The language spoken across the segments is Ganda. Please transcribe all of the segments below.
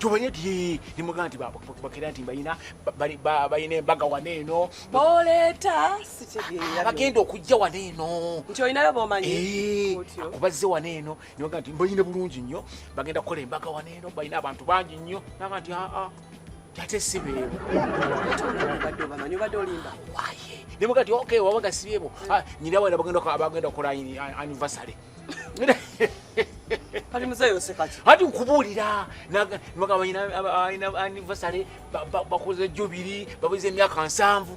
tubanye ti nimugaa nti bakera nti balina balina embaga wana eno boleeta bagenda okujja wana eno nti olinayo bomanyi eh, kubazze wana eno nibaga nti mbalina bulungi nnyo bagenda kukola embaga wana eno balina abantu bangi nnyo naga nti aa ate sibeebo nemuga nti ok wabaga sibeebo ah, nyina wana bagenda kukola anivasale kati muzeeyi oseka ki hati nkubuulira nagamba alina anivasale bakoze jubiri babuza emyaka nsanvu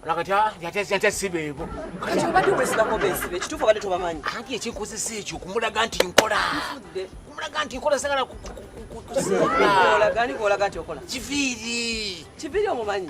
nakati yatya sibeebo kati obadde obesibako besibe ekituufu obadde tobamanyi anti ekinkozesa ekyo kumulaga nti nkola kumulaga nti nkola sagala kuziolaga nti okola kiviiri kiviiri omumanyi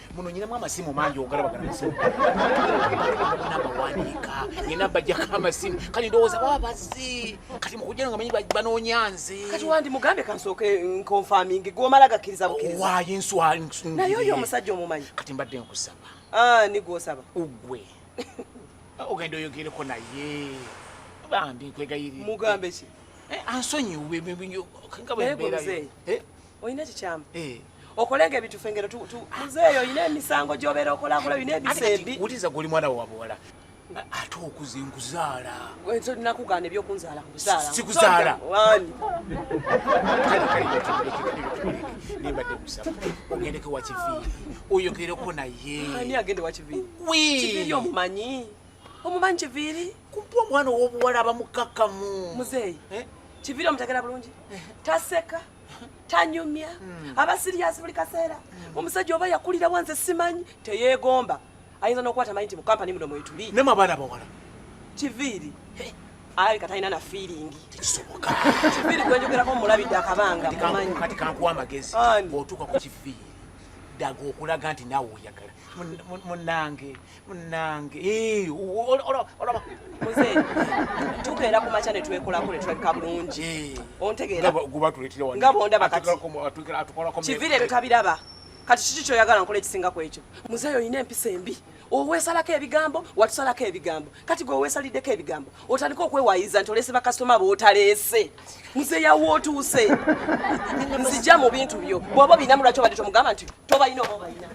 muno nyinamu amasimu mangi ogalabagana masimu nabawanika nyina bajjako amasimu kati ndowooza baba bazzi kati mukujjano nga manyi banoonya nze kati wandi mugambe kansooke nkonfamingi gwomala gakkiriza bukkiriza waayo enswa naye oyo omusajja omumanyi kati mbadde nkusaba ah, nigwosaba ugwe ogenda oyogereko naye bambi nkwegayirira mugambe ki eh, ansonyiwe nga bwembeerayo eh? olina kikyamu eh. okolenga ebintu fengero tu tu muzeeyo oyina emisango gy'obeera okolakola oyina ebisembi wuliriza gwe oli mwana wa buwala ate okuze nkuzaala nakugaana ebyokunzaala kuzaala sikuzaala nembadde musaba ogendeko wakiviiri oyogereko naye ani agende wakiviiri kiviiri omumanyi omumanyi kiviiri kumpa omwana ow'obuwala abamukakkamu muzeeyi eh? kiviiri omutegera bulungi eh. taseka tanyumya hmm. aba siriyasi buli kaseera hmm. omusajja oba yakulira wanze simanyi teyeegomba ayinza n'okwata manyi nti mu kampani muno mwetuli nema abaana bawala kiviiri alabika talina na fiiringi tekisoboka kiviiri gwenjogerako mulabidde akabanga mumanyi kati kankuwa amagezi bw'otuuka ku kiviiri daga okulaga nti naawe oyagala munange munange eh, olaba muze tuka era ku makya ne twekolako ne tulabika bulungi eh. ontegeera nga bondaba kati kivire ebyo tabiraba kati kiki kyoyagala nkola ekisinga ku ekyo muzeeyi olina empisa embi oweesalako ebigambo watusalako ebigambo kati gwe oweesaliddeko ebigambo otandika okwewayiza nti oleese bakasitoma bootaleese nze yawa otuuse nzija mu bintu byo bwoba obinamu lwaki obadde tomugamba nti tobalina oba obalina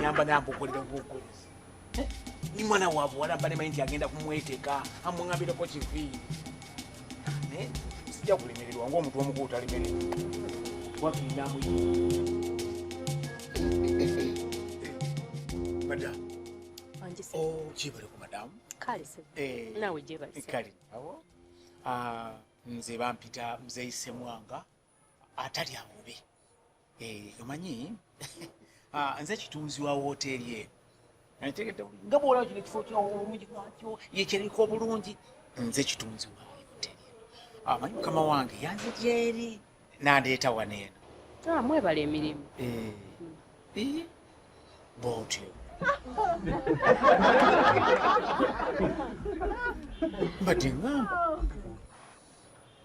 nyamba naye akukolera obukolezi ni mwana wa buwala mba nemanyi nti agenda kumweteka amung'ambireko kivi naye sijja kulemererwa ngaomuntu omukulu talimere wakindamu madamu gyebale ku madamu kale nze bampita mzeisemwanga atali amubi eh, omanyi ah, nze kitunzi wa wooteeri eno nategedde nga bwolaba kino ekifo kyawo obulungi bwakyo yekyeriko obulungi nze kitunzi wa wooteeri eno ah, amanyi mukama wange yanze gyeri nandeeta wano eno ah, mwebala emirimu eh, eh, bwotyo mbadde ngamba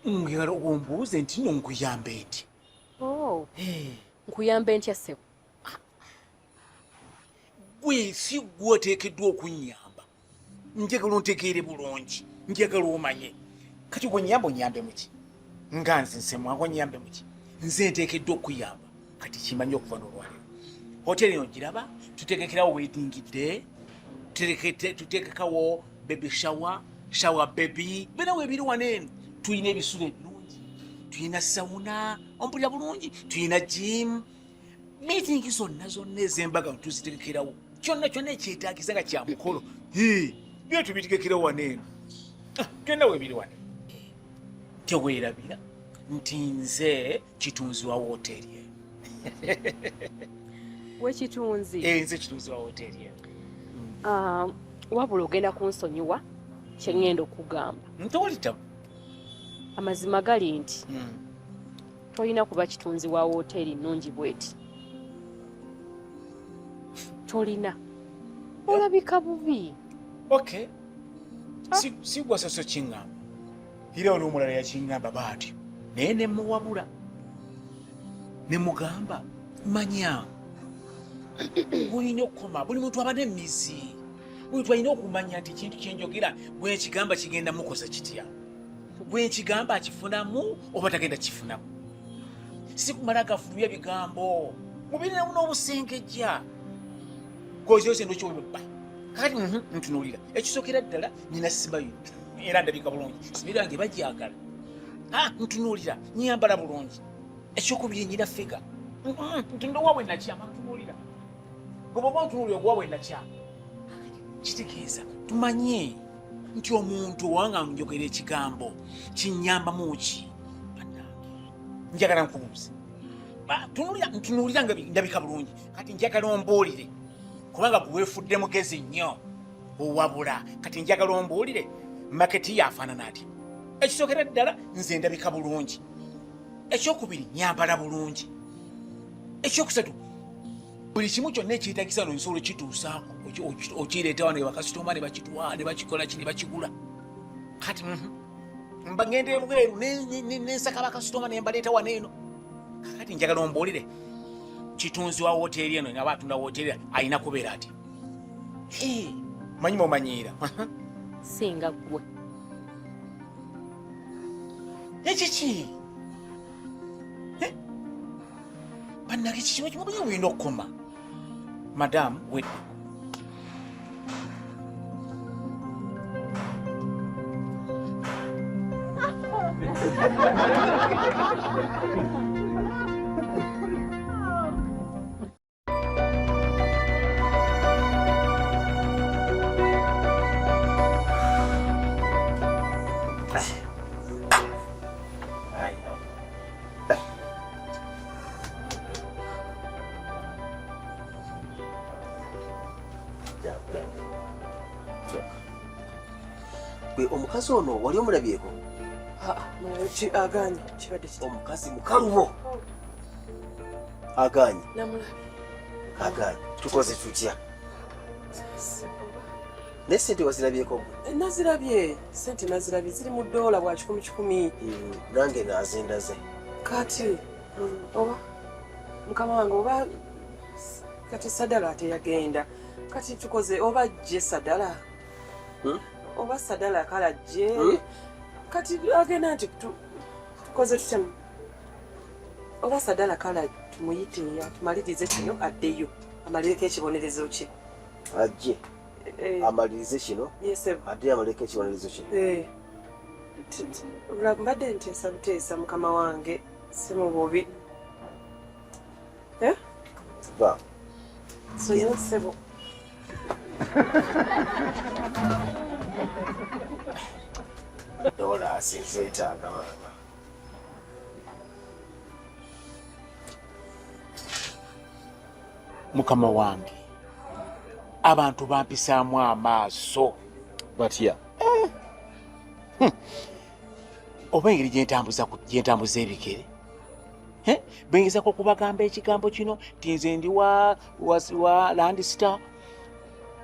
Mwegala ombuuze nti no nkuyambe nti. Oh. Eh. Nkuyambe ntya ssebo? Gwe si gwe oteekeddwa okunnyamba. Njagala ontegeere bulungi. Njagala omanye. Kati gwe nnyamba onnyambe muki? Nga nze nsemwa gwe nnyambe muki? Nze nteekeddwa okuyamba. kati kimanye okuva nolwaliro hoteri eno giraba tutegekerawo wedding day tutegekawo baby shower shower baby bena webiri wano eno tulina ebisulo ebirungi tulina sauna ompulira bulungi tulina gym meeting zonna zonna ezembaga tuzitegekerawo kyonna kyonna ekyetagisa nga kya mukolo byo tubitegekerawo wano eno ah, genda webiri wano tewerabira nti nze kitunzi wa wooteeri eno we kitunzi eh, nze kitunzi wa wooteeri eno ah, wabula ogenda kunsonyiwa kyeŋŋenda okugamba ntolitabu amazima gali nti hmm. tolina kuba kitunzi wa wooteeri nnungi bweti tolina olabika bubi okay ah. sigwasoso kiŋŋamba era waliwo omulala yakingamba baati naye ne muwabula ne mugamba manya bulina okukoma buli muntu aba n'emizi buli muntu alina okumanya nti ekintu kyenjogera bwekigamba kigenda mukosa kitya bwekigamba akifunamu oba tagenda kifunamu sikumala gafulumya bigambo mubirinamu n'obusengejja kozi ose ndokyobibba kati mhm, ntunulira ekisokera ddala nina sibayo era ndabika bulungi sibayo yange bagyagala ah, ntunuulira nyambala bulungi ekyokubiri nyina figa ntundowa we nakyama ntunuulira bwoba ntunuulira okuwa we nakyama kitegeeza tumanye nti omuntu owanga njogera ekigambo kinyambamu ki njagala nkubuuze ntunuulira nga ndabika bulungi kati njagala ombuulire kubanga gweweefudde mugezi nnyo owabula kati njagala ombuulire maketi yafaanana atya ekisookera ddala nze ndabika bulungi ekyokubiri nyambala bulungi ekyokusatu buli kimu kyonna ekyetagisa no nsobola okituusaako okireeta wano ebakasitoma nebakitwala nebakikola ki nebakigula kati mhm. mba ngenda ebweru nensaka bakasitoma nembaleeta wano eno kakati njagala ombuulire kitunzi wa woteeri eno naba atunda woteeri alina kubeera ati manyi momanyiira singa gwe ekiki bannage kikimu kimu buye buyina okukoma madamu wedde gwe omukazi ono wali omulabyeko aganye kibadde omukazi mukalubo Aganye. Namulabi. Aganye. Tukoze tutya? Naye sente wazirabyeko gwe? Eh, nazirabye. Sente nazirabye ziri mu doola bwa kikumi kikumi. Hmm, nange nazindaze. Kati hmm, oba mukama wange oba kati sadala teyagenda kati tukoze oba jje sadala hmm? oba sadala kala jje kati agenda nti tukoze tutemu oba sadala kala tumuyite atumalirize kino addeyo amalireko ekibonerezo kye ajje eh. amalirize kino addeyo amalireko ekibonerezo kye eh. mbadde nteesa buteesa mukama wange si mu bubi eh? ba soyonsebo dola asinzeetaaga mukama wange abantu bampisaamu amaaso batya eh. hmm. oba engeri gyentambuza gyentambuza ebigere eh? bengezako okubagamba ekigambo kino ti nze ndi wa, wa, wa landista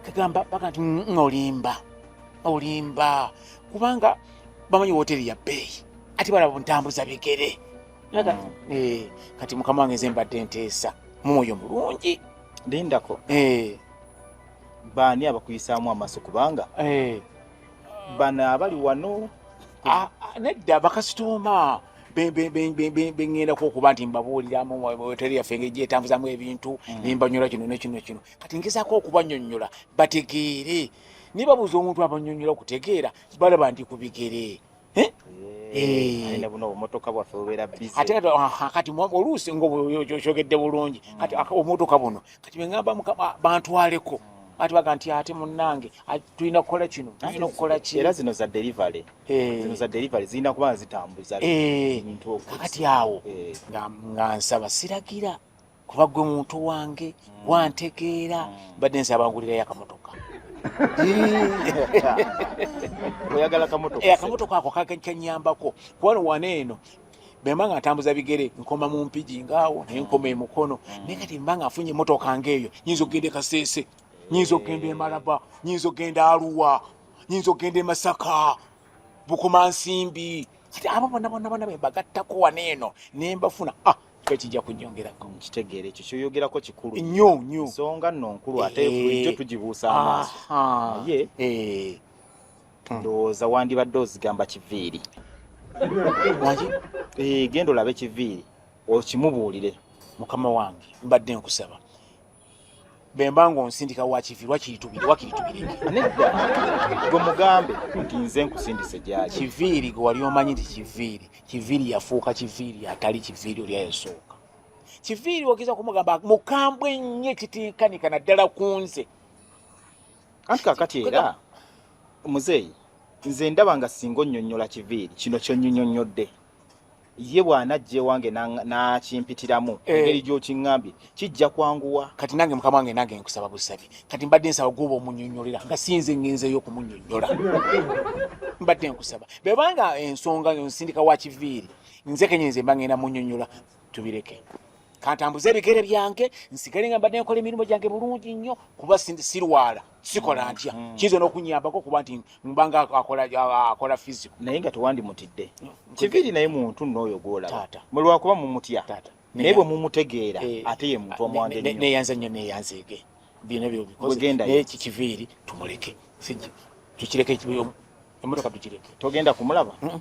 kagamba baga nti mm, mm, olimba olimba kubanga bamanyi wooteeri ya bbeeyi ate balaba buntambuza bigere mm. eh, kati mukama wange nze mbadde nteesa mumwoyo mulungi lindako eh. baani abakuyisaamu amaaso kubanga eh. bano abali wano ah, ah, nedda bakasitooma beŋŋendako okuba nti mbabuuliramu hoteri yaffe engeri gyetambuzamu ebintu mm. nembanyola kino nekino kino kati ngezaako okubanyonyola bategeere nibabuuza omuntu abanyonyola okutegeera balaba ndi ku bigere eh? Eh. ate kati oluusi ngaokyogedde bulungi kati omutoka buno kati bengamba mukama bantwaleko ati baga nti ate munnange tulina kukola kino tulina okukola ki era zino za delivery eh. zino za delivery zirina kuba zitambuza ebintu kati awo nga nsaba siragira kuba gwe muntu wange gwantegeera mbadde nsi abangulirayo akamotoka oyagala kamotoka eh, akamotoka ako kakanyambako kubano wana eno bemba nga ntambuza bigere nkoma mu mpigi ngaawo naye nkoma emukono mm. naye kati mba nga afunye emotoka ngaeyo nyinza okugenda ekaseese nyinza okugenda emalaba nyinza okugenda aluwa nyinza okugenda emasaka bukuma nsimbi kati abo bonabonabona bebagattako wana eno nembafuna ah kyo kijja kunyongerako nkitegeera ekyo kyoyogerako kikulu nnyo nnyo ensonga nno nkulu ate eh. bulijjo tugibuusa amaaso naye eh. ndowooza wandibadde ozigamba kiviiri eh, genda olabe kiviiri okimubuulire mukama wange mbadde nkusaba bemba ng'onsindika wakivirwa kiritubire wakiritubire nedda gwe mugambe nti nze nkusindise gyaki kiviiri gwe wali omanyi nti kiviiri kiviiri yafuuka kiviiri atali kiviiri oli ayasooka kiviiri ogeza kumugamba mukambwe ennyo ekitikanika naddala ku nze anti kakati era muzeeyi nze ndaba nga singa onnyonnyola kiviiri kino kyonnyonyonnyodde ye bw'anajja ewange n'akimpitiramu eh. engeri gy'okiŋŋambye kijja kwanguwa kati nange mukama wange nange nkusaba busabi kati mbadde nsaba gwoba omunyonyolera nga sinze ngenzeeyo okumunyonyola mbadde nkusaba bwebanga ensonga nsindika wa kiviiri nze kenyenze mba ngenda munyonyola tubireke kantambuze ebigere byange nsigale nga mbadde nkola emirimu gyange bulungi nnyo kuba sirwala sikola ntya mm. kiyinza n'okunyambako okuba nti mbanga akola fisico naye nga tewandimutidde mm. kiviri naye muntu nooyo gwolaba mulwakuba mumutya naye bwe mumutegeera eh, ate ye muntu omwangeneyanza nnyo neyanzeege byona byobikozekiviiri tumuleke tukireke emotoka tukireke togenda kumulaba mm.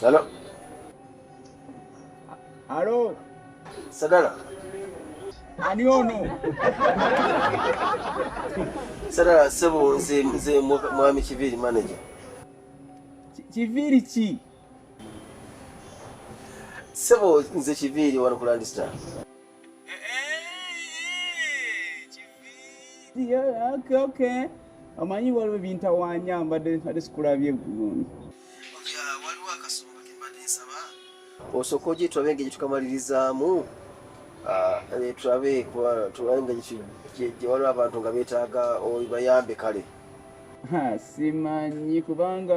Hello. Hello. Sadala. Ani ono? Sadala sebo nze nze mwami Kiviri manager. Kiviri ki? Sebo nze Kiviri wano ku Landistar. omanyi waliwo ebintawanya mbadde mbadde sikulabye bulungi waliwo akasonga kembadde nsaba osooka ogye tulabe engeri tukamalirizaamu ah, eh, tulabe tulabe nga gye waliwo abantu nga beetaaga obayambe kale simanyi kubanga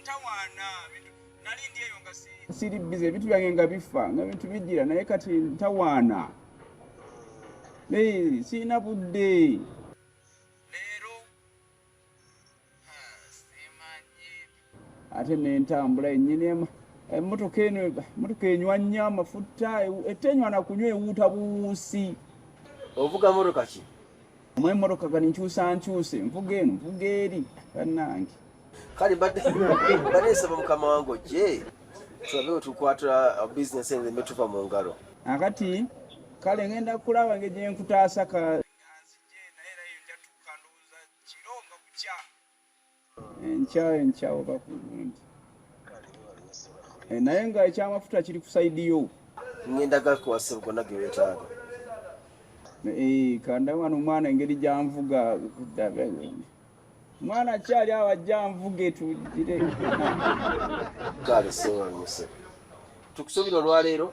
ntawaana nali ndi eyo nga siri bize ebintu byange nga bifa nga bintu bijira naye kati ntawaana naye sirina budde leero ate nentambula enyini emotoka eno emotoka enywa nnyo amafuta etenywa nakunywa ewuuta buwuusi ovuga motoka ki Mwe moroka kali nchusa nchuse mvuga eno mvuga eri banange. Kali bade bade saba mukama wangu je tulabewo tukwatula uh, business ende metuva mu ngalo. Akati kale ngenda kulaba ngeje nkutaasa ka enkya enkya oba ku lundi eh, naye nga ekyamafuta kiri ku saidi yo ngenda gakwasa gonna gewetaaga eh, kanda wano omwana engeri gyanvuga kudabe mwana kyali awo ajja nvuge tugire kale sewanyuse tukusubira olwaleero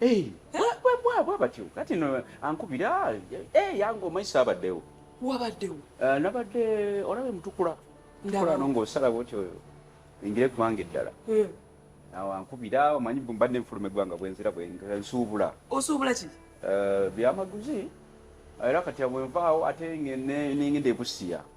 Eh, bwa batyo kati no ankubira eh, yange omanyi saabaddewo wabaddewo eh, nabadde olaba emutukula tukulano ngaosala bwotyo engire kubanga eddala eh. awo ankubira omanyi mbadde nfuluma eggwanga bwenzira bwensuubula osuubula ki byamaguzi era kati abwenvaawo ate nengenda ebusiya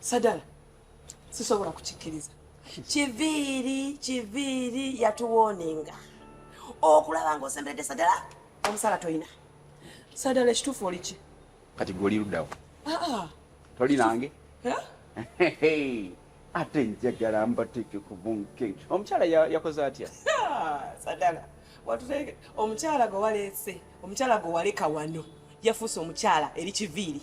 sadala sisobola kukikkiriza kiviiri kiviiri yatuwoninga okulaba nga osemberedde sadala omusala tolina sadala ekituufu oliki kati gwe oli luddawo ah, ah. toli nange ate njagala mbateeke ku bunkenge omukyala yakoze atya sadala watuteke omukyala gwe waleese omukyala gwe waleka wano yafuuse omukyala eri kiviiri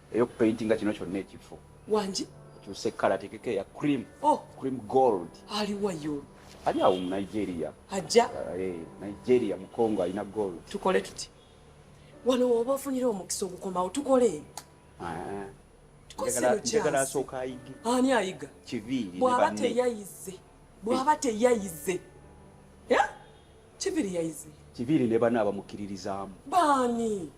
eyo ku paintinga kino kyonna ekifo wangi kyusa ekkala tekeko eya cream oh. cream gold aliwayo ali awo mu nigeria ajja uh, eh, nigeria mukongo alina gold tukole tuti wano woba ofunira omukisa ogukomawo tukole ah. njagala asooka ayige ani ayiga kiviiri bwaba teyayize bwaba teyayize kiviiri yayize kiviiri ne bana abamukkiririzaamu baani